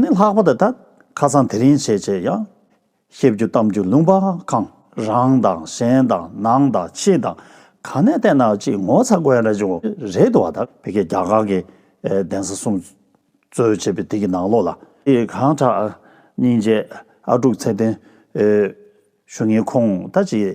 ནི་ལྷག་པར་དུ་ད་ཁ་སང་དེ་རིང་བྱས་བྱས་ཡང། བཤད་རྒྱུ་གཏམ་རྒྱུ་ལུང་པ་གང་རང་དང་གཞན་དང་ནང་དང་ཕྱི་དང་ག་ནས་བལྟས་ན་གཅིག་ངོ་ཚ་དགོས་རེད་ཅུང་རེད་འདུག་བ་ད་བོད་སྐད་རྒྱ་གར་གྱི་གདན་ས་གསུང་རྩོད་བྱེད་པའི་དེ་གི་ནང་ལོགས་ལ། གང་དྲག་སྙིང་རྗེ་ཨ་དཀྲུག་ཚད་ལྡན། ཞུ་ངའི་ཁོང་ད་ཅིག།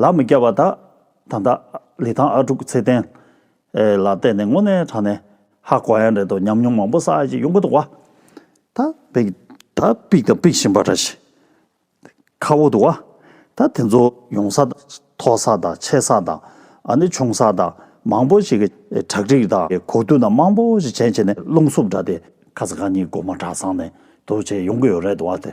ལག་མི་རྒྱག་པ་དག་ད་ལྟ་ལི་ཐང་ཨ་དཀྲུག་ཚེ་བརྟན་ལ་བལྟས་ནས་དངོས་གནས་དྲང་ནས་ཧ་གོ་ཡ་རེད་དོ་ཉམས་མྱོང་མང་པོ་བསགས་ཡ་ཅིག་ཡོང་གི་འདུག་བ། ད་འབིག་ད་འབིག་ད་འབིག་བཞིན་པ་འདྲ་ཞིག་ཁ་བོ་འདུག་བ། ད་དེ་ཚོ་ཡོང་ས་དང་ཐོག་ས་དང་ཆད་ས་དང་ཨ་ནི་ཆུང་ས་དང་མང་པོ་ཞིག་གི་གྲ་སྒྲིག་དང་གོ་བསྡུར་དང་མང་པོ་ཞིག་བྱས་བྱས་ནས་རླུང་སུབ་འདྲ་སྟེ་ཁ་ས་ག་གཉིས་སྒོ་མ་གྲགས་སང་ནས་དུ་བྱས་ཡོང་གི་ཡོད་རེད་དོ་བ་དེ།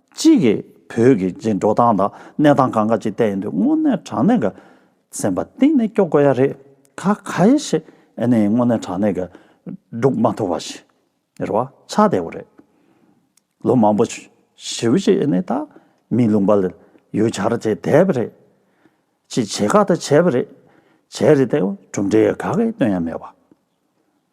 གཅིག་གིས་བོད་ཀྱི་འགྲོ་སྟངས་དང་གནས་སྟངས་གང་འགའ་ཅིག་བལྟས་ཡོང་དུས་དངོས་གནས་དྲང་གནས་ཀྱི་སེམས་པ་གཏིང་ནས་སྐྱོ་དགོས་ཡ་རེད། ཁ་ཁ་ཡེ་ཤེས་ཨེ་ནས་དངོས་གནས་དྲང་གནས་ཀྱི་སྒྲུག་མ་ཐུབ་པ་ཞིག་རེད་བ་ཆ་བདེ་བོ་རེད། ལོ་མང་པོ་བྱིའུ་ཅིག་ཨེ་ནས་ད་མི་ལུང་པ་ལ་ཡུལ་གྱར་བྱས་བསྡད་པ་རེད། ཅིག་བྱེད་ཁག་ད་བྱས་པ་རེད། བྱས་རེད་ད་གྲུབ་འབྲས་ག་གེ་སྟོན་ཡ་མེད་བ།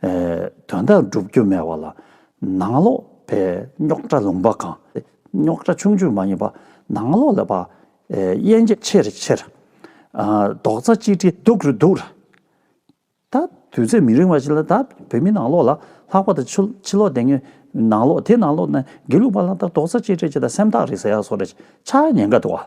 དོན་དག་འགྲུབ་རྒྱུ་མེད་བ་ལ་ནང་ལོག་པའི་རྙོག་དྲ་ལུང་པ་གང། རྙོག་དྲ་ཆུང་ཆུང་མ་ཡིན་པར་ནང་ལོག་ལ་པ་དབྱེ་འབྱེད་ཆེར་ཆེར། རྡོག་རྩ་གཅིག་སྒྲིལ་སྡུག་རུ་འདུག། ད་དུས་ཚོད་མི་རིང་བ་ཞིག་ལ་ད་བོད་མི་ནང་ལོག་ལ་ལྷག་པ་དང་ཕྱི་ལོག་དེ་ངའི་ནང་ལོག་དེ་ནང་ལོག་ན་དགེ་ལུགས་པ་ལ་ད་རྡོག་རྩ་གཅིག་སྒྲིལ་བྱེད་ད་སེམས་ཐག་རིང་ཟེར་ཡག་སོ་རེ་ཆགས་ཉེན་ཁ་འདུག་བ།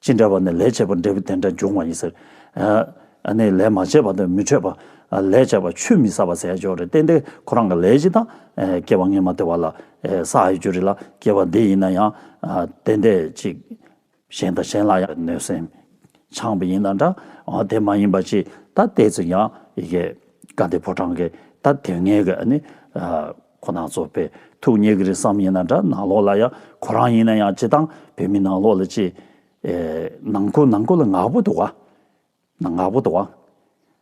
ཅི་འདྲ་བ་ནི་ལས་བྱེད་པར་འབྲས་བུ་དེ་འདྲ་འབྱུང་བ་ཡིན་ཟེར། ཨ་ནི་ལས་མ་བྱས་པ་དང་མི་འཕྲོད་པ། ལས་བྱས་པ་ཆུད་མི་ཟ་བ་ཟས་སྦྱོར་རེ་བསྟེན་ཏེ་ཁོ་རང་གི་ལས་ཅི་དང། སྐྱེ་བ་ལྔས་མ་བདེ་བ་ལ། ས་ཨའི་རྒྱུ་རེ་ལ་སྐྱེ་བ་འདི་ཡིན་ན་ཡང། དེ་འདས་ཅིག། གཞན་དང་གཞན་ལ་ཡང་གནོད་སེམས། འཆང་བ་ཡིན་ན་འདྲ། དེ་མ་ཡིན་པ་ཅི། ད་ལྟའི་ཚིག་ཀྱང། ཀ་དེ་ཕོ་བྲང་གི། ད་དེ་ངེད་ཀྱི་ཨ་ནི། ཁོ་ན་ཚོ་བོད་ཐུག་ཉེ་གི་རེད་བསམ་ཡིན་ན་འདྲ་ནང་ལོག་ལ་ཡང་ཁོ་རང་ཡིན་ན་ཡང་སྤྱི་བཏང་བོད་མི་ནང་ལོག་ལ་ཅི། ནང་སྐོར་ནང་སྐོར་ལ་ནག་པོ་འདུག་ཨ། ནག་པོ་འདུག་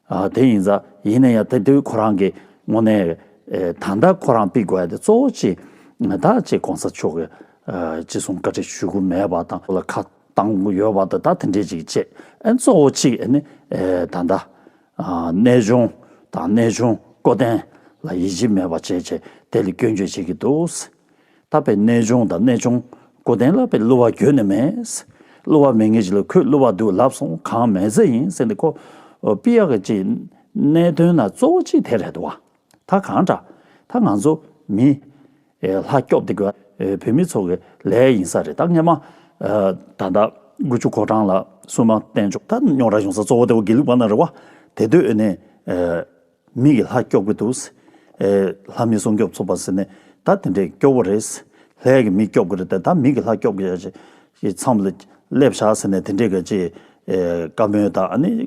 ཨ། དེ་ཡིན་ས་ཡིན་ན་ཡང་དེ་དུས་ཁོ་རང་གི་དངོས་གནས་ད་ལྟ་ཁོ་རང་དཔེ་དགོས་ཡ་དེ་གཙོ་བོ་ཅི། ད་ཅི་གོང་ས་མཆོག་གི་ཅི་གསུང་བཀའ་ཁྲི་ཞུ་གི་མེད་པ་དང་ལ་ཁ་བཏང་ཡོད་པ་དང་ད་དེ་འདྲས་ཅིག་བྱེད་ཨེ་གཙོ་བོ་ཅིག་ཨེ་ནི་ད་ད། གནས་སྦྱོང་དང་གནས་སྦྱོང་བསྐོ་འཐེན་ལ་ཡིད་ཆེས་མེད་པ་བཅས་བྱས་ཏེ་སྐྱོན་བརྗོད་བྱེད་ཀྱི་འདུག་ཟེར། ད་བའི་གནས་སྦྱོང་དང་གནས་སྦྱོང་བསྐོ་འཐེན་ལ་བའི་གླུ་བ་གྱོན་ནས་མེད། གླུ་བ་མེད་ངེས་ཅི་ལ་ཁོས་གླུ་བ་འདུག་ལབ་སོང་གང་མེད་ཟེར་ཡིན་ཟེར་ནས་ཁོ། པི་ཡག་གི་ཅི། གནད་དོན་ན་གཙོ་བོ་ཅི་དེ་རེད་དོ། ད་གང་འདྲ། ད་ང་ཚོ། མི། ལྷ། སྐྱོབ་འདི་དགོས། བོད་མི་ཚོ་གི། ལས། ཡིན་ས་རེད་ད་ངས་མ། ད། ཟླ། དགུ་བཅུ་གོ་གྲངས་ལ། སུན་མ། བསྟན་བཅུག། ད་རྙོག་དྲ་བྱུང་ས་གཙོ་བོ་དེ་བོ་དགེ་ལུགས་པ་ན་རེ་བ། དེ་དུས་ནས། མི་གི་ལྷ་སྐྱོབ་གི་འདུག། ལྷ་མི་སྲུང་སྐྱོབ་ཚོགས་པ་ཟེར་ནས། ད་དེ་འདྲས་སྐྱོ་བོ་རེད། ལྷའི་གི་མི་སྐྱོབ་གི་རེད་ད་མི་གི་ལྷ་སྐྱོབ་གི་ཡོད། ཚང་མ། སླེབས་བཞག་ཟེར་ནས་དེ་འདྲས་གི་ཅེས། བཀའ་མོལ་དང་ཨ་ནི།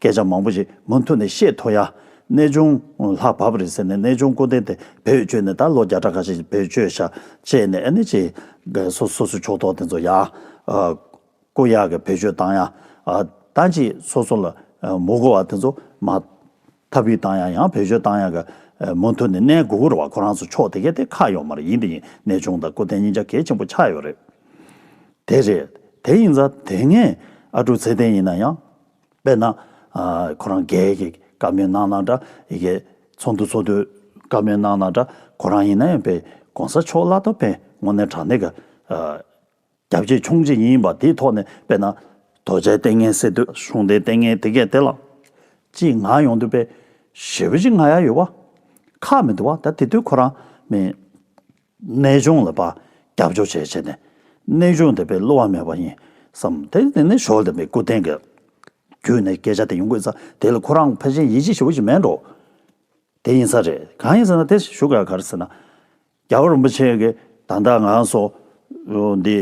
སྐད་ཆ་མང་པོ་ཞིག་མུ་མཐུད་ནས་བཤད་ཐུབ་ཡ། གནས་ཆུང་ལྷག་བབས་རེད་ཟེར་ནས་གནས་ཆུང་སྐུ་རྟེན་དེ་བེད་སྤྱོད་ནས་ད་ལོ་བརྒྱ་ཕྲག་ཁ་ཤས་ཀྱི་བེད་སྤྱོད་བཞག་ཅེས་ནས་ཨ་ནི་ཅི། སོ་སོའི་ཕྱོགས་གཏོགས་དེ་ཚོ་ཡག། སྐུ་ཡག་གི་བེད་སྤྱོད་བཏང་ཡ། ད་ཅི་སོ་སོ་ལ་མུ་གོ་བ་དེ་ཚོ་མ། ཐབས་ཡིག་བཏང་ཡ་ཡང་བེད་སྤྱོད་བཏང་ཡ་གི། མུ་མཐུད་ནས་གནས་དགུ་གུར་བ་ཁོ་རང་ཚོ་ཕྱོགས་དེ་གས་དེ་ཁ་ཡོག་མར་ཡིན་དེ་ཡིན་གནས་ཆུང་དང་སྐུ་རྟེན་གཉིས་ཆ་གས་ཆེན་པོ་ཆགས་ཡོད་རེད། དེ་རེད་དེ་ཡིན་ཙང་དེ་སྔའི་ཨ་ཀྲུག་ཚེ་བརྟན་ཡིན་ན་ཡང། དཔེར་ན། ཁོ་རང་རྒས་ཡས་ཀྱི་བཀའ་མོལ་གནང་ན་འདྲ། ཡི་གེ་ཚོགས་འདུ་ཚོགས་དུས་བཀའ་མོལ་གནང་ན་འདྲ། ཁོ་རང་ཡིན་ན་ཡང་པེ་གོང་ས་མཆོག་བླ་སྟོབས་འཕེལ་དངོས་གནས་དྲང་གནས་ཀྱི། རྒྱ་བསྐྱེད་ཆུང་བྱེད་ཡིན་པ་དེའི་ཐོག་ནས་དཔེར་ན། དོལ་རྒྱལ་ལྟས་ངན་སེ་སྟོད་གཞུང་འདི་ལྟས་ངན་དེ་གས་དེ་ལ། ཅེས་ངག་ཡོང་དུས་པེ་ཞེ་བོ་ཅིག་ངག་ཡ་ཡོད་བ། ཁག་མི་འདུག་བ་ད་དེ་དུས་ཁོ་རང་མི། གནས་སྦྱོང་ལ་པརྒྱབ་སྦྱོར་བྱས་བྱས་ནས་གནས་སྦྱོང་དེ་པའི་སླུ་བ་མེད་པ་ཡིན་བསམ་དེ་ནས་ནི་ཞོར་དེ་པའི་སྐུ་རྟེན་གྱི་རྒྱུད་ནས་སྐད་ཆ་དེ་ཡོང་དགོས་ས་དེ་ལ་ཁོ་རང་ཕལ་ཆེན་ཡིད་ཆེས་ཞུ་བ་ཞིག་མེད་འགྲོ་དེ་ཡིན་ས་རེད་གང་ཡིན་ཟེར་ན་དེ་ཞུ་ག་གར་ཟེར་ན། རྒྱ་བོད་རིན་པོ་ཆེ་གི་ད་ལྟ་ང་སོགས་འདི་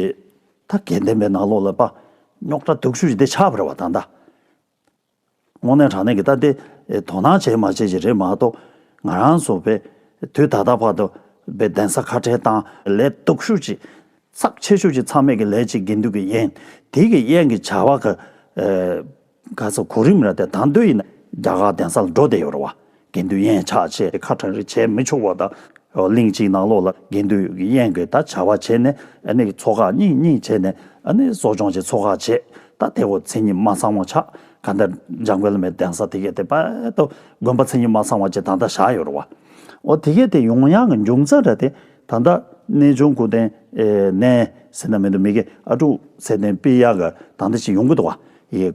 ད་གེ་འདེམས་པའི་ནང་ལོགས་ལ་པརྙོག་དྲ་དུག་ཤུལ་ཞིག་དེ་ཆགས་པར་བ་ད་ད། དངོས་གནས་དྲང་གནས་ཀྱི་ལྟ་དེ་དོ་སྣང་བྱས་མ་བྱས་ཀྱི་རེད་མ་གཏོགས། ང་རང་ཚོ་བས་དུས་ད་ལྟ་བར་དུ་བའི་གདན་ས་ཁ་བྲལ་དང་ལས་སྟོབས་ཤུགས་ཀྱིས་ཚབས་ཆེ་ཤོས་ཀྱི་ཚང་མས་ཀྱི་ལས་ཀྱི་དགེ་འདུན་གྱི་ཡན་དེ་ཀྱི་ཡན་གྱི་བྱ་བ་ག་ཚོད་གོ་རིམ་ར་དེ་དང་དོད་ཡིན་ན་རྒྱ་གར་གདན་ས་ལ་འགྲོ་བསྡད་ཡོད་རེད་བ། དགེ་འདུན་ཡན་ཆགས་བྱས་ཏེ་ཁ་གྲངས་རེ་བྱས་མི་ཆོག་པ་དང། གླིང་གཅིག་ནང་ལོགས་ལ་དགེ་འདུན་ཡན་གྱི་ད་བྱ་བ་བྱས་ནས་ཚོགས་ཁག་གཉིས་གཉིས་བྱས་ནས་གསོ་སྦྱོང་བྱེད་ཚོགས་ཁག་བྱས་ད་དེ་བོ་མཚན་ཉིད་མ་ཚང་བ་ཆགས་ག་ད་འཇམ་དགོན་ལ་མའི་གདན་ས་དེ་གས་དེ་པད་དོ་དགོན་པ་མཚན་ཉིད་མ་ཚང་བ་བཅས་ད་ད་བཞག་ཡོད་ར་བ། འོ་དེ་གས་དེ་ཡོང་ཡང་གི་འབྱུང་རྩ་འདྲ་སྟེ་ད་ད་རྣལ་འབྱོར་སྐུ་རྟེན་ནས་ཟེར་ན་མི་འདུག་མི་གས་ཨ་ཀྲུག་ཚད་ལྡན་དཔེ་ཡག་གི་ད་ད་ཅིག་ཡོང་གི་འདུག་བ།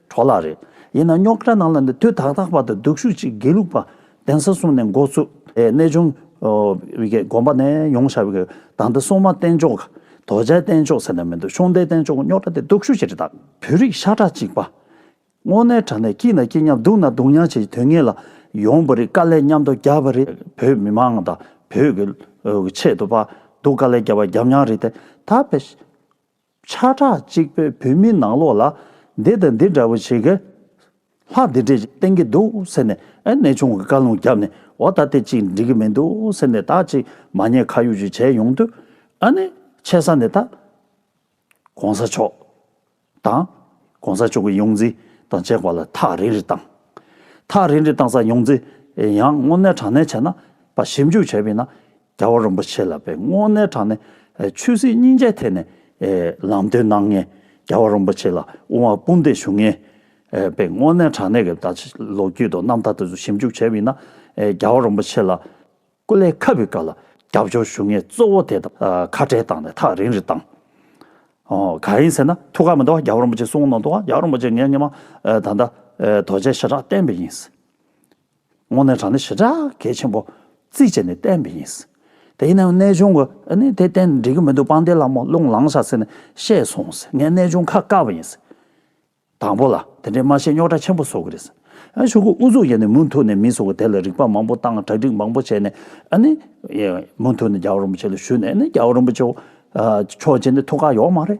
གྲོགས་ལགས་རེད། ཡིན་ན་རྙོག་དྲ་ནང་ལ་ནི་དུས་ཐག་ཐག་པ་དང་སྡུག་ཤུགས་ཅིག་དགེ་ལུགས་པ་གདན་ས་སོང་ནས་མགོ་བཙུགས། གནས་ཆུང། དགོན་པ་ནས་ཡོང་ཤག་བའི་ད་ལྟ་སྲུང་མ་བསྟེན་ཆོག་ག། དོ་རྗེ་བསྟེན་ཆོག་ཟེར་ནས་མི་འདུག་ཤོང་ལྡན་བསྟེན་ཆོག་གི་རྙོག་དྲ་དེ་སྡུག་ཤུགས་ཆེ་གྲི་དྭགས། བོད་རིགས་ཤ་ཁྲག་གཅིག་པ། དངོས་གནས་དྲ་གནས་སྐྱིད་ན་སྐྱིད་མཉམ་སྡུག་ན་སྡུག་མཉམ་བྱེད་ཀྱི་དུས་ངེས་ལ་ཡོང་བ་རེད་དཀའ་ལས་མཉམ་དུ་རྒྱབ་པ་རེད་བོད་མི་མང་དང་བོད་ཀྱི་ཆེད་དུ་དཔའ་སྡུག་དཀའ་ལས་རྒྱབ་པ་རྒྱབ་མྱངས་རེད་དེ་ད་ཕེབས། ཆ་གྲགས་གཅིག་པོས་བོད་མིའི་ནང་ལོག་ལ། འདི་དང་འདི་འདྲ་བོ་བྱེད་ཀྱི། ལྷ་འདི་འདྲས་བསྟེན་གྱི་འདུག་ཟེར་ནས་གནས་ཆུང་གི་བཀའ་ལུང་བརྒྱབ་ནས་འོ་ད་དེ་ཅིག་འགྲིག་གི་མི་འདུག་ཟེར་ནས་དག་ཅིག་མ་ཉེས་ཁ་ཡུག་ཅིག་བྱས་ཡོང་དུས། ཨ་ནི། ཆེ་ས་ནས་ད། གོང་ས་མཆོག། དང། གོང་ས་མཆོག་གི་ཡོངས་འཛིན། དང་བཅས་པ་ལ་ཐག་རིང་རིང་བཏང། ཐག་རིང་རིང་བཏང་ས་ཡོངས་འཛིན། ཡང་དངོས་གནས་དྲང་གནས་བྱས་ན། པ་ཞིབ་འཇུག་བྱས་པས་ན། རྒྱལ་བ་རིན་པོ་ཆེ་ལ་པའི་སྔོན་གནས་དྲངས་ནས་ཆོས་སྲིད་སྙིང་རྗེའི་ཐད་ནས་ལམ་སྟོན་གནང་ངེས། རྒྱལ་བ་རིན་པོ་ཆེ་ལ་དབུ་མ་སྤུན་ཟླས་ཞུ་ངེས། པའི་སྔོན་གནས་དྲངས་ནས་ཀྱི་ད་ཆ་ལོ་རྒྱུས་དང་རྣམ་ཐར་དེ་ཚོ་ཞིབ་འཇུག་བྱས་པའི་ནང་རྒྱལ་བ་རིན་པོ་ཆེ་ལ་སྐུ་ལས་ཁ་བའི་སྐབས་ལ་རྒྱབ་སྐྱོར་ཞུ་ངེས་གཙོ་བོ་དེ་དང་ཁ་བྲལ་བཏང་ནས་ཐག་རིང་རིང་བཏང། ག་རེ་ཡིན་ཟེར་ན་ཐུགས་ཁག་མི་འདུག་རྒྱལ་བ་རིན་པོ་ཆེ་གསུང་ནང་དུའང་རྒྱལ་བ་རིན་པོ་ཆེ་ངས་སྙིང་མ་ད་ལྟ་དོལ་རྒྱལ་ཞི་དྲག་བསྟན་པའི་ཡིན། དངོས་གནས་དྲང་བདེན་ཞེ་དྲག་གལ་ཆེན་པོ་རྩིས་བྱས་ནས་བསྟན་པ་ཡིན། དེ་ཡིན་ན་ཡང་གནས་ཆུང་གིས་དེ་བསྟན་འགྲིག་གི་མི་འདུག་པང་གདན་ལ་མོ་རླུང་ལངས་ཤག་ཟེར་ནས་བཤད་སོང་ཟེར་ངས་གནས་ཆུང་ཁ་བཀག་པ་ཡིན། དང་པོ་ལ་དེ་འདྲའི་སྨྲ་ཤེས་རྙོག་དྲ་ཆེན་པོ་བཟོ་གི་རེད། ཆོས་ཁུངས་ཨུ་ཚུགས་བརྒྱབ་ནས་མུ་མཐུད་ནས་མི་ཚོགས་དེ་ལ་རིག་པ་མང་པོ་བཏང་གྲ་སྒྲིག་མང་པོ་བྱས་ནས་མུ་མཐུད་ནས་རྒྱ་བོ་རིན་པོ་ཆེ་ལ་ཞུས་ནས་རྒྱ་བོ་རིན་པོ་ཆེ་ཁྱོད་ཀྱི་ནི་ཐུགས་ཁག་ཡོག་མ་རེད།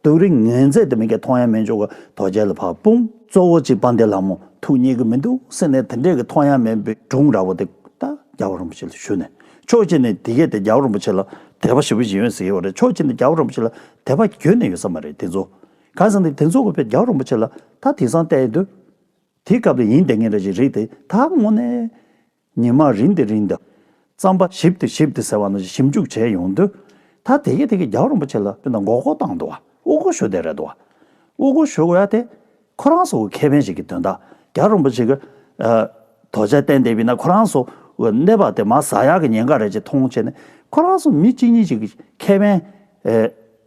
སྡུག་རིག་ངན་མཛད་དེ་མི་སྐད་མཐོང་ཡང་མི་འཇུག་རྡོ་རྗེ་ལ་བག་འབུམ། གཙོ་བོ་གཅིག་སྤང་སྟེ་ལ་མོ་ཐུགས་མཉེས་ཀྱི་མི་འདུག་སེམས་ནས་དེ་འདྲའི་གི་མཐོང་ཡང་མེད་པའི་སྒྲུང་འདྲ་བོ་དེ་ད་རྒྱ་བོ་རིན་པོ་ཆེ་ལ་ཞུས་ནས་ཕྱོགས་གཅིག་ནས་དེ་གས་ཏེ་རྒྱ་བོ་རིན་པོ་ཆེ་ལ་དད་པ་བཞི་བོ་ཞིག་ཡོད་ཟེར་གྱི་ཡོད་རེད་ཕྱོགས་གཅིག་ནས་རྒྱ་བོ་རིན་པོ་ཆེ་ལ་དད་པ་གྱོན་ནས་ཡོད་ས་མ་རེད་དེ་ཚོ་གང་ཟེར་ནས་དེ་ཚོ་གོ་ཕེབས་རྒྱ་བོ་རིན་པོ་ཆེ་ལ་ད་དེང་སང་བལྟས་ཡོད་དུས་དེའི་སྐབས་ལ་ཡིན་བསྡད་ངེས་རེད་ཅིག་རིག་དེ་ད་ངོ་ནས། ཉི་མ་རིང་དུ་རིང་དུ། རྩམ་པ་ཞིབ་ཏུ་ཞིབ་ཏུ་ཟེར་བ་ནང་བཞིན་ཞིབ་འཇུག་བྱས་ཡོང་དུས། ད་དེ་གས་དེ་གས་རྒྱའུ་རིན་པོ་ཆེ་ལ་སྤུན་ཟླ་མགོ་སྐོར་བཏང་འདུག་བ་དབུ་སྐོར་ཞུ་བསྡད་རེད་འདུག་བ། དབུ་སྐོར་ཞུ་དགོས་ཡ་དེ། ཁོ་རང་སོགས་ཀྱི་ཁེ་ཕན་ཞིག་གི་དོན་དག་རྒྱ་རིན་པོ་ཆེ་གི། དོ་ཆལ་བསྟན་བསྡད་པས་ན་ཁོ་རང་སོགས་གནས་པ་དེ་མ་ཟ་ཡག་གི་ཉེན་ཁ་རེད་ཅེས་མཐོང་བྱས་ནས་ཁོ་རང་སོགས་མི་གཅིག་གཉིས་ཤིག་གི་ཁེ་ཕན།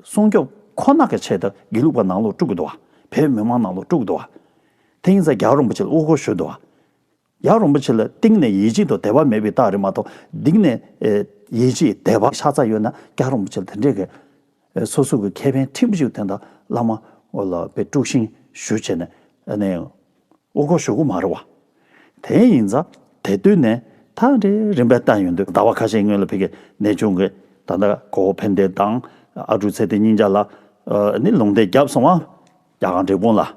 སྲུང་སྐྱོབ་ཁོ་ན་གི་ཆེད་དུ་དགེ་ལུགས་པ་ནང་ལོགས་དཀྲུགས་གི་འདུག་བ། བོད་མི་མང་ནང་ལོགས་དཀྲུགས་གི་འདུག་བ། དེ་ཡིན་ཙང་རྒྱའུ་རིན་པོ་ཆེ་ལ་དབུ་སྐོར་ཞུ་འདུག་བ། ཡང་རིན་པོ་ཆེ་ལ་གཏིང་ནས་ཡིད་ཆེས་དང་དད་པ་མེད་པའི་རྟགས་རེད་མ་གཏོགས་གདིང་ནས་ཡིད་ཆེས་དད་པ་ཤ་ཚ་ཡོད་ན་ཀྱང་རིན་པོ་ཆེ་ལ་དེ་འདྲའི་གལ། སོ་སོ་གི་ཁེ་ཕན་ཁྲིམས་གཅོད་ཐེངས་དང་བླ་མ་ལ་པའི་དཀྲུགས་ཤིང་ཞུ་བྱས་ནས་ནས་དབུ་སྐོར་ཞུ་གི་མ་རེད་བ། དེ་ཡིན་ཙང་དེ་དུས་ནས་ད་རེ་རིན་པའི་རྟགས་ཡོད་འདུག་ཟླ་བ་ཁ་ཤས་སྔོན་ལ་ཕི་གེ་ནས་བྱུང་གི་ད་ལྟ་གོ་བོ་ཕན་བདེ་དང་ཨ་ཀྲུག་ཚེ་བརྟན་སྙིང་རྗ་ལ་ནི་ལུང་བསྟན་བརྒྱབ་སོང་བ། རྒྱ་གར་འབྲས་སྤུངས་ལ།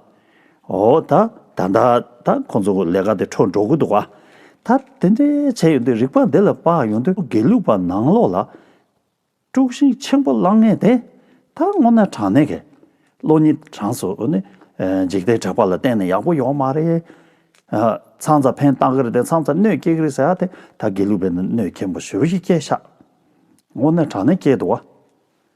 འོ་ད་ད་ད་ད་ཁོང་ཚོ་ལས་ཀ་དེ་འཕྲོ་འགྲོ་གི་འདུག་ད་དེ་འདྲས་བྱས་ཡོང་དུས་རིག་པ་འདི་ལ་དཔག་ཡོང་དུས་དགེ་ལུགས་པ་ནང་ལོགས་ལ་དཀྲུགས་ཤིང་ཆེན་པོ་བསླང་ངེས་དེ་ད་སྔོ་ན་དྲང་ནས་གས་བློ་ནི་དྲང་སོ་ནི་འཇིག་རྟེན་དྲེགས་པ་ལ་བརྟེན་ནས་ཡག་པོ་ཡོང་མ་རེད་ཚང་ཚ་འཕེན་བཏང་གི་རེད་དེ་ཚང་ཚ་གནོད་སྐྱེལ་གི་རེད་ཟེར་ཡག་དེ་ད་དགེ་ལུགས་པའི་གནོད་སྐྱེལ་མོ་ཞོ་ཞིག་སྐྱེལ་ཤག་སྔོ་ན་དྲང་ནས་སྐྱེལ་འདུག་བ།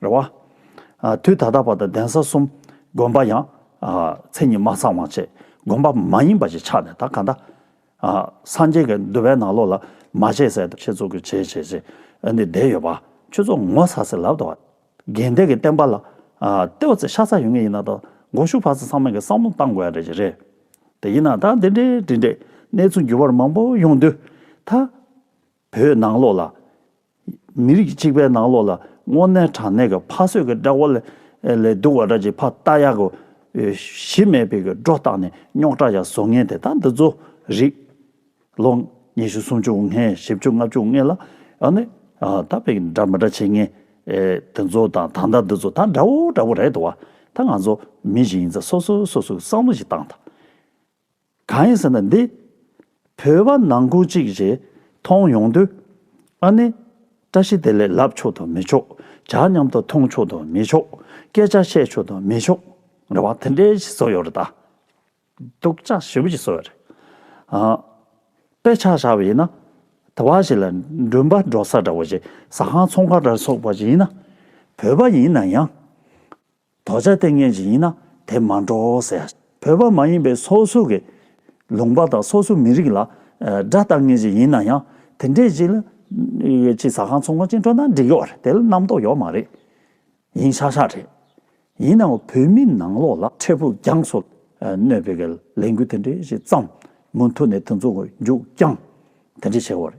རེ་བ། དུས་ད་ལྟ་བར་དུ་གདན་ས་གསུམ་དགོན་པ་ཡང་མཚན་ཉིད་མ་ཚང་བ་བཅས་དགོན་པ་མ་ཡིན་པ་ཞིག་ཆགས་ནས་ད་ག་ད། སངས་རྒྱས་ཀྱི་འདུལ་བའི་ནང་ལོགས་ལ་མ་བྱས་ཟེར་དུ་ཆེད་བཙུགས་ཀྱི་བྱས་བྱས་བྱས་ནས་བསྡད་ཡོད་པ། ཁྱོད་ཚོ་ངོ་ཚ་ཚ་ལབ་དང། རྒན་བདེ་གི་བསྟན་པ་ལ་ལྟེ་བ་ཚེ་ཤ་ཚ་ཡོད་ངེས་ཡིན་ན་ད་མགོ་ཤུགས་བར་ཚེ་ཚང་མ་གི་བསམ་བློ་བཏང་དགོས་ཡ་རེད་ཀྱི་རེད། དེ་ཡིན་ན་ད་འདི་འདྲའི་འདྲི་འདྲའི་གནས་ཚུལ་འགྱུར་བར་མང་པོ་ཡོང་དུས་ད་བོད་ནང་ལོགས་ལ། མི་རིགས་གཅིག་པའི་ནང་ལོགས་ལ་སྔོ་ནད་དྲག་ནད་ཀྱི་ཕ་གསོད་ཀྱི་སྐྲག་བ་ལས་སྡུག་བ་འདྲ་ཅིག་ཕ་རྟ་གཡག་གི་གཞི་མེད་པའི་སྒྲོ་བཏགས་ནས་རྙོག་དྲ་ཡང་བཟོ་ངེས་དེ་དག་འདི་ཚོ་རིགས། ལོ་ཉི་ཤུ་སུམ་ཅུ་ལྔའི་བཞི་བཅུ་ལྔ་བཅུ་ལྔའི་ལ་ཡང་ནི་ད་བས་ཀྱི་འདྲ་མི་འདྲ་བྱེད་ངེས་དེ་ཚོ་དང་ད་ལྟ་འདི་ཚོ་ད་འདྲ་བོ་འདྲ་བོ་རེད་དོ། ད་ང་ཚོ་མི་ཞིག་ཡིན་ཚ་སོ་སོས་སོ་སོའི་བསམ་བློ་ཞིག་བཏང་དང། གང་ཡིན་ཟེར་ན་འདི། བོད་པ་ནང་ཁུལ་གཅིག་རེད་མཐོང་ཡོང་དུས། ཨ་ནི། བཀྲ་ཤིས་བདེ་ལེགས་ལབ་ཆོག་དང་མི་ཆོག་ཇག་མཉམ་དུ་མཐོང་ཆོག་དང་མི་ཆོག་སྐད་ཆ་བཤད་ཆོག་དང་མི་ཆོག་རེད་བ་དེ་འདྲའི་ཞིག་བཟོ་ཡོད་རེད་ད། སྡུག་ཅག་ཞེ་པོ་ཅིག་བཟོ་ཡོད་རེད། དཔེ་ཆ་བཞག་པ་ཡིན་ན། དེ་བ་ཞིག་ལ་འགྲུལ་པ་འགྲོ་ས་འདྲ་བ་ཞིག་ཟ་ཁང་ཚོང་ཁང་འདྲ་སོགས་པ་ཞིག་ཡིན་ན། བོད་པ་ཡིན་ན་ཡང། དོགས་བྱ་ལྟས་ངན་ཞིག་ཡིན་ན་དེ་མ་འགྲོ་ཟེར། བོད་པ་མ་ཡིན་པའི་སོ་སོ་གི་ལུང་པ་དང་སོ་སོའི་མི་རིགས་ལ་དགྲ་ལྟ་ངན་ཞིག་ཡིན་ན་ཡང་དེ་འདྲས་ཅིག་ལ་ཅིག་ཟ་ཁང་ཚོང་ཁང་ཅིག་འཕྲོག་ན་འགྲིག་གི་བ་རེད་དེ་ལ་རྣམ་རྟོག་ཡོག་མ་རེད་ཡིན་ཤག་ཤག་རེད། ཡིན་ནའང་བོད་མི་ནང་ལོག་ལ་འཕྲལ་ཕུགས་རྒྱང་སོ་གནོད་པའི་གི་ལས་འགུལ་དེ་འདྲས་ཞིག་བརྩམས་མུ་མཐུད་ནས་དེ་ཚོ་མགྱོགས་རྐྱང་དེ་འདྲས་བྱེད་གི་བ་རེད།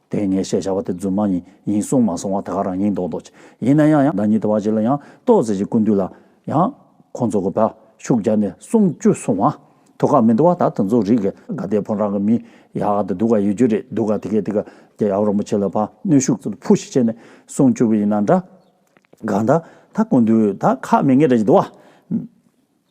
དེའི་ངེས་ཤེས་བྱ་བ་དེ་རྫུན་མ་ཉིད་ཡིན་གསུངས་མ་སོང་བ་ད་ག་རང་ཡིན་མདོག་མདོག་ཅིག་ཡིན་ན་ཡང་ཡང་བདག་ཉིད་དུ་བ་ཅིག་ལ་ཡང་ཏོག་ཟེར་གྱི་ཀུན་འདུས་ལ་ཡང། ཁོང་ཚོ་གོ་བར་ཤུགས་བརྒྱབ་ནས་གསུངས་བཅུ་གསུང་བ། དུ་ག་མི་འདུག་བ་ད་དུ་ཚོ་རིག་གི་ག་དེ་ཕོ་བྲང་གི་མི་ཡག་ཏུ་འདུག་ག་ཡོད་རྒྱུ་རེད་འདུག་ག་དེ་གས་དེ་ག་རྒྱ་ཡག་རོང་པོ་ཆེ་ལ་བ་གནོད་ཤུགས་ཚོ་ཕུ་ཞིག་བྱས་ནས་གསུངས་བཅུ་བ་ཡིན་ན་འདྲ་ག་ད་ད་ཀུན་འདུས་ད་ག་མི་ངེས་རེད་ཀྱི་འདུག་བ།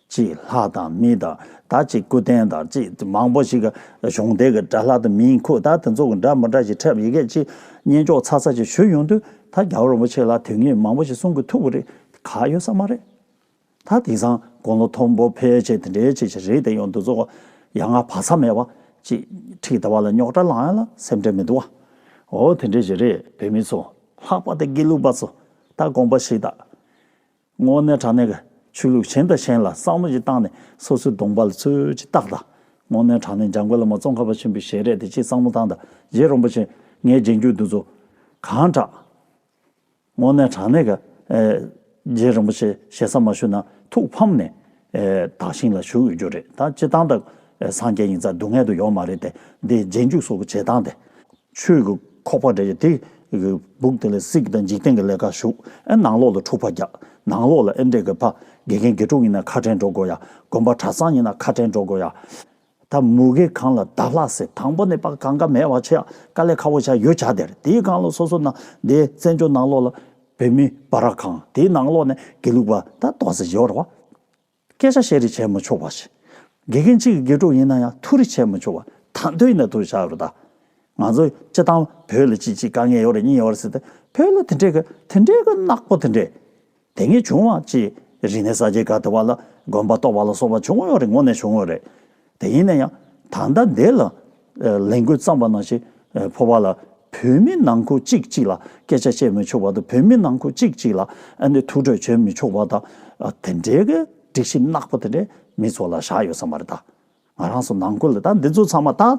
གཅིག་ལྷག་དང་མི་དང་ད་གཅིག་སྐུ་རྟེན་དང་གཅིག་མང་པོ་ཞིག་གཞུང་དེ་གི་དགྲ་ལྷག་དང་མིའི་འཁུ་ད་དེ་ཚོ་གི་འདྲ་མི་འདྲ་ཞིག་འཁྲབ་ཡི་གེ་གཅིག་བསྙེན་རྒྱོགས་ཚ་ཚ་ཞིག་ཞུས་ཡོང་དུས་ད་རྒྱ་རོ་མོ་ཆེ་ལ་དུས་ངེས་མང་པོ་ཞིག་གསུང་གི་ཐུག་གི་རེད་ག་ཡོད་ས་མ་རེད། ད་དེང་སང་དགུང་ལོ་མཐོན་པོ་ཕལ་ཆེ་དེ་འདྲའི་ཆེ་ཞིག་རེད་དེ་ཡོང་དུས་ཚོ་ཡ་ང་བག་ཚ་མེད་པ་གཅིག་ཁྲིག་ད་བ་ལ་རྙོག་དྲ་ལང་ཡ་ལ་སེམས་ཁྲལ་མི་འདུག་བ་འོ་དེ་འདྲའི་ཞིག་རེད་བོད་མི་ཚོ་ལྷག་པ་དེ་དགེ་ལུགས་པ་ཚོ་ད་དགོངས་པ་ཞིག་ད། སྔོ་ནད་དྲག་ནད་ཀྱི་ཆོས་ལུགས་གཞན་དང་གཞན་ལ་བསམ་བློ་ཞིག་བཏང་ནས་སོ་སོའི་གདོང་པ་ལ་ཚོད་ཅིག་བཏགས་དང། སྔོ་ནད་དྲག་ནད་འཇམ་དགོས་ལ་མ་ཙོང་ཁ་བ་ཆེན་པོའི་ཞལ་རས་དེ་ཅིག་བསམ་བློ་བཏང་དང་རྗེ་རོང་པ་ཆེ་ངས་རྗེས་འཇུག་འདུག་ཚོ། གང་དྲག། སྔོ་ནད་དྲག་ནད་ཀྱི། རྗེ་རིན་པོ་ཆེ་ཞལ་བསམ་མ་ཞུ་ན་ཐུགས་ཕམ་ནས། དག་ཞིང་ལ་བཞུགས་ཡོད་རྒྱུ་རེད་ད་སྤྱི་བཏང་དང། སངས་རྒྱས་ཉིན་མཚར་སྡུག་བསྔལ་དུ་ཡོང་མ་རེད་དེ་འདི་རྗེས་འཇུག་སོགས་ཀྱི་བྱེད་སྟངས་དེ། ཆོས་ཀྱི་ཁོག་པ་འདྲེས་ཀྱི་དེ། སྦུག་དེ་ལས་སྲིད་དང་འཇིག་རྟེན་གྱི་ལས་ཀ་ཞུགས། ཨེ་ནང་ལོག་ལ་འཁྲུག་པ་རྒྱག། ནང་ལོག་ལ་ཨེ་འདྲེས་གི་ཕ། དགེ་རྒན་དགེ་ཕྲུག་ཡིན་ན་ཁ་བྲལ་འགྲོ་དགོས་ཡ། དགོན་པ་གྲྭ་ཚང་ཡིན་ན་ཁ་བྲལ་འགྲོ་དགོས་ཡ། ད་མུ་གེ་གང་ལ་བདག་ལྷག་ཟེར་དང་པོ་ནས་པ་གང་ག་མེད་བ་ཆེ་ཡ་དཀའ་ལས་ཁ་བོ་བྱ་ཡོད་བྱ་དེར་དེའི་གང་ལ་སོ་སོ་ན་དེ་བཙན་བྱོལ་ནང་ལོག་ལ་བོད་མི་བ་ར་གང་དེའི་ནང་ལོག་ནས་དགེ་ལུགས་པ་ད་དོག་ཟེར་ཡོད་ར་བ། སྐད་ཆ་བཤད་རེས་བྱས་མི་ཆོག་པ་ཞིག། དགེ་རྒན་གཅིག་གི་དགེ་ཕྲུག་ཡིན་ན་ཡང་ཐུག་རེས་བྱས་མི་ཆོག་པ་ད་འདོད་ཡིན་ན་ཐུག་རེས་བྱ་རོགས་ད། ང་ཚོ་སྤྱི་བཏང་བོད་ལ་ཅི་ཅི་དཀའ་ངལ་ཡོད་རེད་གཉིས་ཡོད་རེད་ཟེར་ཏེ་བོད་ལ་དེ་འདྲའི་གི་དེ་འདྲའི་གི་ནག་པོ་དེ་འདྲའི། དེ་ངས་བྱུང་བ་ཅི་རིག་ནས་ས་སྐྱའི་ག་དེ་བ་ལ་དགོན་པ་གཏོགས་པ་ལ་སོགས་པ་བྱུང་ཡོད་རེད་ངོ་ནས་བྱུང་ཡོད་རེད། དེ་ཡིན་ན་ཡང་ད་ལྟ་འདས་ལ་ལས་འགུལ་བརྩམས་པ་ནང་བཞིན་ཕོ་བ་ལ་བོད་མི་ནང་ཁུལ་གཅིག་གཅིག་ལ་སྐད་ཆ་བཤད་མི་ཆོག་པ་དང་བོད་མི་ནང་ཁུལ་གཅིག་གཅིག་ལ་ཐུགས་ཁྲོ་བྱོན་མི་ཆོག་པ་དང་དེ་འདྲའི་སྒྲིག་གཞི་གནག་པོ་དེ་འདྲས་མི་ཚོ་ལ་བཞག་ཡོད་ས་མ་རེད་ད། ང་རང་སུ་ནང་ཁུལ་ལ་ད་འདི་ཚོ་ཚང་མ་ད།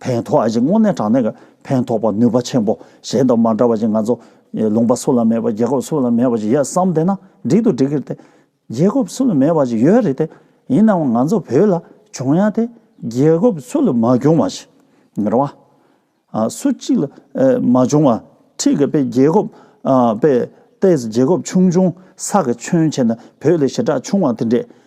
ཕན་ཐོགས་ཨ་ཅེ་དངོས་གནས་དྲང་གནས་ཕན་ཐོགས་པ་ནུས་པ་ཆེན་པོ་གཞན་དང་མ་འདྲ་བ་ཞིག་ང་ཚོ་ལུང་པ་སུ་ལ་མེད་པ་རྒྱལ་ཁབ་སུ་ལ་མེད་པ་ཞིག་ཡོད་བསམ་བསྡད་ན་འགྲིག་ཏུ་འགྲིག་གི་རེད་དེ། རྒྱལ་ཁབ་སུ་ལ་མེད་པ་ཞིག་ཡོད་རེད་དེ། ཡིན་ནའང་ང་ཚོ་བོད་ལ་བྱུང་ཡ་དེ་རྒྱལ་ཁབ་སུ་ལ་མ་བྱུང་བ་ཞིག་རེད་བ། སུ་གཅིག་ལ་མ་བྱུང་བ་ཁྲིག་གི་དཔེ་རྒྱལ་ཁབ་དཔེ་ལྟས་རྒྱལ་ཁབ་ཆུང་ཆུང་ས་གི་ཁྱོན་ཆེ་ན་བོད་ལས་ཞེ་དྲག་ཆུང་བ་དེ་འདྲས།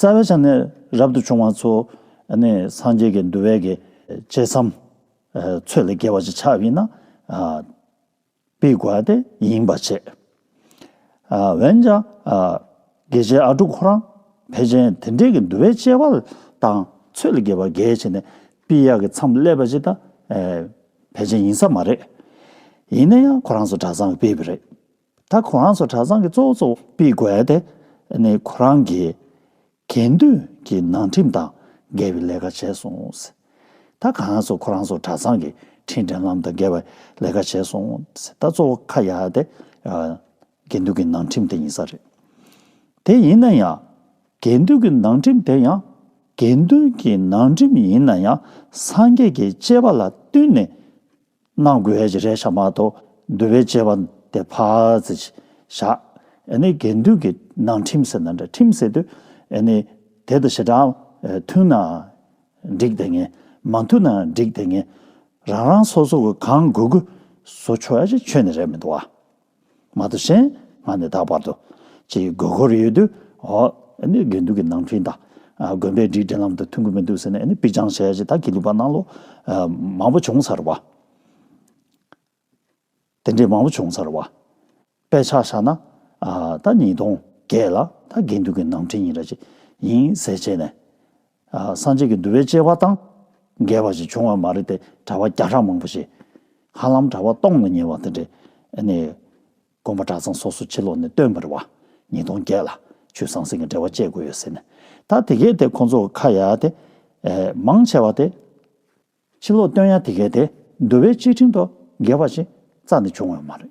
རྩ་བའི་ཆ་ནས་རབ་ཏུ་བྱུང་བ་ཚོ་ནི་སངས་རྒྱས་ཀྱི་འདུལ་བའི་གེགས་བྱེད་བསམ། ཚོད་ལས་རྒྱལ་བ་ཅིག་ཆགས་ཡིན་ན། པའི་དགོས་པ་དེ་ཡིན་པར་བྱེད། འོན་ཀྱང། དགེ་བྱེད་ཨ་དཀྲུགས་ཁོ་རང་ཕལ་ཆེན་དེ་འདྲས་ཀྱི་འདུལ་བའི་སྤྱད་པ་དང་ཚོད་ལས་རྒྱལ་བར་འགལ་བྱེད་ནས་པའི་གཡག་གི་མཚམས་སླེབས་པ་ཅིག་དང། ཕལ་ཆེན་ཡིན་ས་མ་རེད། ཡིན་ན་ཡང་ཁོ་རང་ཚོ་གྲྭ་ཚང་གི་པའི་བུ་རེད། ད་ཁོ་རང་ཚོ་གྲྭ་ཚང་གི་གཙོ་བོ་གཙོ་བོ་སྤེལ་དགོས་ཏེ། ནི་ཁོ་རང་གིས་དགེ་འདུན་གྱི་ནང་ཁྲིམས་དང་འགལ་བའི་ལས་ཀ་བྱས་སོང། ད་གང་ང་ཚོ་ཁོ་རང་ཚོ་གྲྭ་ཚང་གི་ཁྲིམས་འགྲན་ལམ་དང་འགལ་བའི་ལས་ཀ་བྱས་སོང། ད་གཙོ་བོ་ཁ་ཡག་དེ་དགེ་འདུན་གྱི་ནང་ཁྲིམས་དེ་ཡིན་ས་རེད། དེ་ཡིན་ན་ཡང་དགེ་འདུན་གྱི་ནང་ཁྲིམས་དེ་ཡང་དགེ་འདུན་གྱི་ནང་ཁྲིམས་ཡིན་ན་ཡང་སངས་རྒྱས་ཀྱི་སྤྱད་པ་ལ་བསྟུན་ནས་སྣང་དགོས་ཧེ་ཅི་རེ་བྱ་མ་གཏོགས་འདུལ་བའི་སྤྱད་པ་དེ་ཕ་ཙི་ཅི་བྱ། ཨེ་ནི་དགེ་འདུན་གྱི་ནང་ཁྲིམས་ཟེར་ན་འདྲ་ཁྲིམས་ཟེར་དུས་ཨེ་ནི་དེ་དང་བྱེ་བྲག་མཐུན་ན་འགྲིག་དེ་ངེས་མ་མཐུན་ན་འགྲིག་དེ་ངེས་རང་རང་སོ་སོ་གང་དགོས་དགོས་བཟོ་ཆོག་ཡ་ཅི་ཆོས་ནི་རེད་མི་འདུག་བ། མ་དང་གཞན་ང་ནི་ད་བར་དུ། ཅེས་དགོས་མཁོར་ཡོད་དུས་དགེ་འདུན་གྱི་ནང་འཕྲིན་དང། དགོན་པའི་སྒྲིག་འགྲེལ་ལམ་དུ་མཐུན་གྱི་མི་འདུག་ཟེར་ནས་དཔེ་བྱང་ཞལ་ཞེས་དག་གིས་ལུས་པ་གནང་ལོ། མང་པོ་བྱུང་ཚར་བ། དེ་འདྲས་མང་པོ་བྱུང་ཚར་བ། དཔེ་ཆ་བཞག་ན། ད་ཉིས་སྟོང་བརྒྱད་ལ་ད་དགེ་འདུན་གྱི་ནང་འཕྲིན་ཡིན་ར་ཅི་ཡིན་གསལ་བྱས་ནས། སངས་རྒྱས་ཀྱི་འདུལ་བའི་སྐྱེ་བ་དང། འགལ་བ་ཞིག་བྱུང་བ་མ་རེད་དེ་གྲྭ་བ་བརྒྱ་ཕྲག་མང་པོ་ཞིག། ཧ་ལམ་གྲྭ་བ་སྟོང་ལ་ཉེ་བ་དེ་འདྲས། ནས། དགོན་པ་གྲྭ་ཚང་སོ་སོ་ཕྱི་ལོགས་ནས་སྟོན་པར་བ། ཉིས་སྟོང་བརྒྱད་ལ། ཆུ་ཟང་ཟིང་གི་འབྲེལ་བ་བཅད་དགོས་ཡོད་ཟེར་ནས། ད་དེ་གས་དེ་ཁོང་ཚོ་ཁ་ཡ་དེ། མང་ཆེ་བ་དེ། ཕྱི་ལོགས་སྟོན་ཡ་དེ་གས་དེ་འདུལ་བའི་སྤྱི་ཁྲིམས་ཐོག་འགལ་བ་ཞིག་རྩ་ནས་བྱུང་བ་མ་རེད།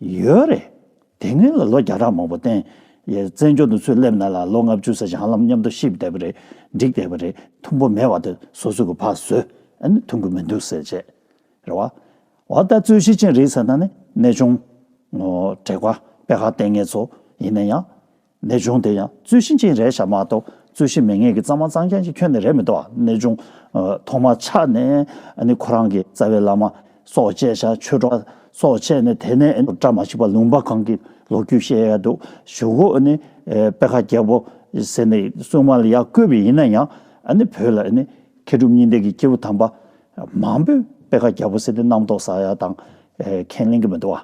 ཡོད་རེད། དེ་སྔོན་ལ་ལོ་བརྒྱ་ཕྲག་མང་པོ་བསྟན། བཙན་བྱོལ་དུ་ཚུར་སླེབས་ན་ལ་ལོ་ལྔ་བཅུ་ཟེར་བྱང་ལམ་མཉམ་དུ་ཤི་བསྡད་པ་རེད་འགྲིག་བསྡད་པ་རེད་ཐུམ་པོ་མེད་བ་དེ་སོ་སོ་གི་ཕག་ཟོས་ཨ་ནི་ཐུམ་གི་མི་འདུག་ཟེར་བྱས་རེད་བ། འོ་ལྟ་རྩོད་གཞི་ཅན་རེད་ཟེར་ན་ནི་གནས་ཆུང། དྲེགས་པ་དཔལ་ཧ་ལྟས་ངན་ཚོ་ཡིན་ན་ཡང། ནད་གཅོང་དེ་ཡང་རྩོད་གཞི་ཅན་རེད་ཤག་མ་གཏོགས་རྩོད་གཞི་མེད་ངེས་ཀྱི་གཙང་མ་གཙང་རྐྱང་གཅིག་ཁྱོན་ནས་རེད་མི་འདུག་ཨ་ནད་གཅོང་ཐོག་མ་ཆགས་ནས་ཨ་ཁོ་རང་གི་རྩ་བའི་བླ་མ་སོགས་བཅད་ཤག་ཆོས་གྲོགས་སོགས་བཅད་ནས་དེ་ནས་བཀྲ་མ་ཤིས་པ་ལུང་པ་གང་གི་ལོ་རྒྱུས་བཤད་ཡག་འདུག་ཞུ་གོ་ཨ་དཔེ་ཁ་རྒྱལ་པོ་ཟེར་ནས་གསུང་མ་ལ་ཡག་བཀོད་པའི་ཡིན་ན་ཡང་ཨ་བོད་ལ་ཨ་མཁས་གྲུབ་གཉིས་ལྡན་གྱི་སྐྱེ་བོ་དམ་པ་མང་པོས་དཔེ་ཁ་རྒྱལ་པོ་ཟེར་ཏེ་རྣམ་རྟོག་ཟ་ཡག་དང་ཁས་ལེན་གྱི་མི་འདུག་ཨ་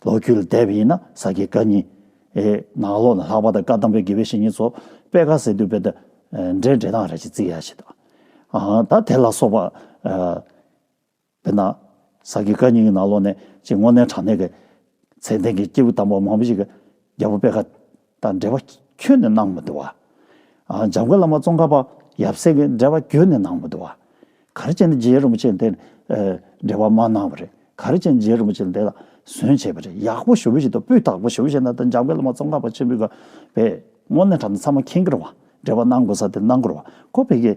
ལོ་རྒྱུས་ལ་བལྟས་པ་ཡིན་ན་ས་དགེ་བཀའ་རྙིང། ནང་ལོགས་ན་ལྷག་པ་དང་བཀའ་གདམས་པའི་དགེ་བའི་བཤེས་གཉེན་ཚོ་པད་དཀར་གསེར་དུ་བས་ད་འདྲའི་འགྲེལ་སྟངས་རེ་ཅིག་བརྩི་ཡ་ཞིག་དང། ད་དེ་ལ་སོགས་པ། དཔེར་ན། ས་དགེ་བཀའ་རྙིང་གི་ནང་ལོགས་ནས་ཅིག་སྔོ་ནན་བྲག་ནས་ཀྱི་ཚེ་འདན་གྱི་སྐྱེས་བུ་དམ་པ་མང་པོ་ཞིག་གིས་རྒྱལ་པོ་པད་དཀར་དང་འབྲེལ་བ་ཁྱོན་ནས་གནང་མི་འདུག་བ། འཇམ་མགོན་བླ་མ་ཙོང་ཁ་པ་ཡབ་སྲས་ཀྱིས་འབྲེལ་བ་ཁྱོན་ནས་གནང་མི་འདུག་བ། ག་རེ་བྱས་ནས་རྗེ་རིན་པོ་ཆེས་འདི་འབྲེལ་བ་མ་གནང་བ་རེད། ག་རེ་བྱས་ནས་རྗེ་རིན་པོ་ཆེས་འདི་ལ་ཟོན་བྱས་པ་རེད་ཡག་པོ་ཞུ་བཞིན་འདུག་སྤུས་དག་པོ་ཞུ་བཞིན་འདུག་འཇམ་མགོན་བླ་མ་ཙོང་ཁ་པ་ཆེན་པོས་བས། དངོས་གནས་དྲ་འདི་ཚང་མ་མཁྱེན་གྱི་རུང་བ། འབྲེལ་བ་གནང་དགོས་ས་དེ་གནང་གི་རུང་བ། ཁོ་བོས་ཀྱིས།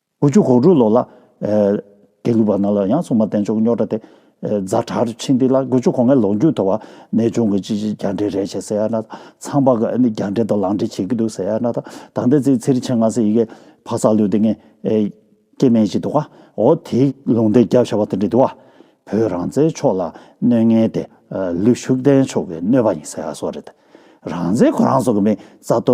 དགུ་བཅུ་གོ་དྲུག་ལོ་ལ། དགེ་ལུགས་པ་རྣམས་ལ་ཡང་སྲུང་མ་བསྟེན་ཆོག་རྙོག་དྲ་སྟེ། རྫ་བྲག་རུ་ཕྱིན་ཏེ་ལ་དགུ་བཅུ་གོ་ལྔའི་ལོ་མཇུག་ཐོ་བ་ནས་བྱུང་གི་ཅི་ཅི་རྒྱ་འདྲེ་རེད་བྱས་ཟེར་ཡ་ན་ཚངས་པ་ག་ནི་རྒྱ་འདྲེ་དང་ལང་འདྲེ་བྱེད་ཀྱི་འདུག་ཟེར་ཡ་ན་ད་ལྟའི་ཚེ་ཚེ་རི་ཆེན་ང་སེ་ཡི་གེ་ཕག་གསར་ལུས་དེ་ངས་སྐྱེ་དམན་ཞིག་འདུག་ཨོ་དེ་ལུང་བསྟན་རྒྱབ་བྱ་བ་དེ་འདྲ་འདུག་བོད་རང་བཙན་ཕྱོགས་ལ་གནོད་ངན་དེ་ལུས་ཤུགས་ལྡན་ཕྱོགས་ཀྱི་གནོད་པ་ཡིན་ཟེར་ཡ་སོགས་རེད་རང་བཙན་ཁོ་རང་ཚོ་གི་མེད་རྩ་ལྟོ་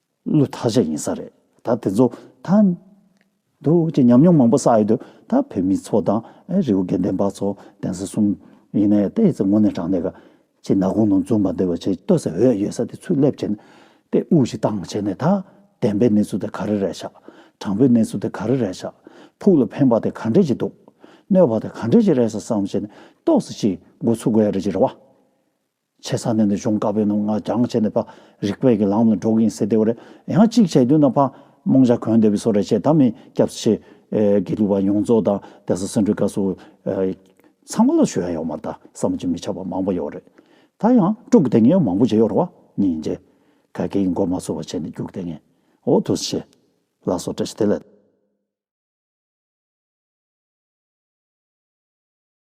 བློས་ཐག་བཅད་ཡིན་ས་རེད་ད་དེ་ཚོ་ད། འདུག་ཅེས་ཉམས་མྱོང་མང་པོ་བསགས་ཡོད་དུས་ད་བོད་མི་ཚོ་དང་རི་བོ་དགེ་ལྡན་པ་ཚོ་གདན་ས་གསུམ་ཡིན་ནའི་ལྟས་ཚེ་ངོ་ནས་དྲང་ནས་ག་ཅི་ན་གུང་ནང་འཛུམ་པ་འདེབས་པ་བྱེད་ལྟོས་ས་འོད་ཡོད་ས་དེ་ཚུར་སླེབས་བྱས་ནས་ལྟས་དབུགས་ཤིག་བཏང་བྱས་ནས་ད་བདེན་པའི་གནས་ཚུལ་དེ་ག་རེ་རེད་ཤག་དྲང་པོའི་གནས་ཚུལ་དེ་ག་རེ་རེད་ཤག་ཕུགས་ལ་ཕན་པ་དེ་ག་འདྲས་ཅིག་འདུག་གནོད་པ་དེ་ག་འདྲས་ཅིག་རེད་ས་བསམ་བྱས་ནས་ལྟོས་ས་ཞིག་འགོ་ཚུགས་དགོས་ཡ་རེད་ཅེས་རེ་བ། ཆེ་ས་ནས་ནི་གཞུང་བཀའ་བོད་ནང་ང་རྒྱང་བྱས་ནས་པ་རིག་པའི་གི་ལང་ནི་འགྲོ་གིན་སེ་དེའོ་རེ་ཡང་གཅིག་བྱས་དུས་ན་པ་རྨོངས་བྱ་གོན་དེ་བི་སོ་རེ་བྱས་ད་མི་སྐྱབས་ཆེ་གི་ལུགས་པ་ཡོངས་རྫོགས་ད་དེ་སི་སི་འགྲུལ་དཀའ་སུ་ཚང་མ་ལ་ཞུ་ཡ་ཡོག་མ་ད་བསམ་བྱེད་མི་ཆགས་པ་མང་པོ་ཡོག་རེ་ད་ཡང་དཀྲུག་གི་དེ་ངས་མང་པོ་བྱས་ཡོག་རེ་བ་ཉིན་རྗེ་ག་གི་གི་མགོ་མ་ཚོས་བ་བྱས་ནི་རྒྱུག་དེ་ངས་འོ་དུ་སི་ཆེ་ལ་སོ་བཀྲ་ཤིས་དེ་ལ།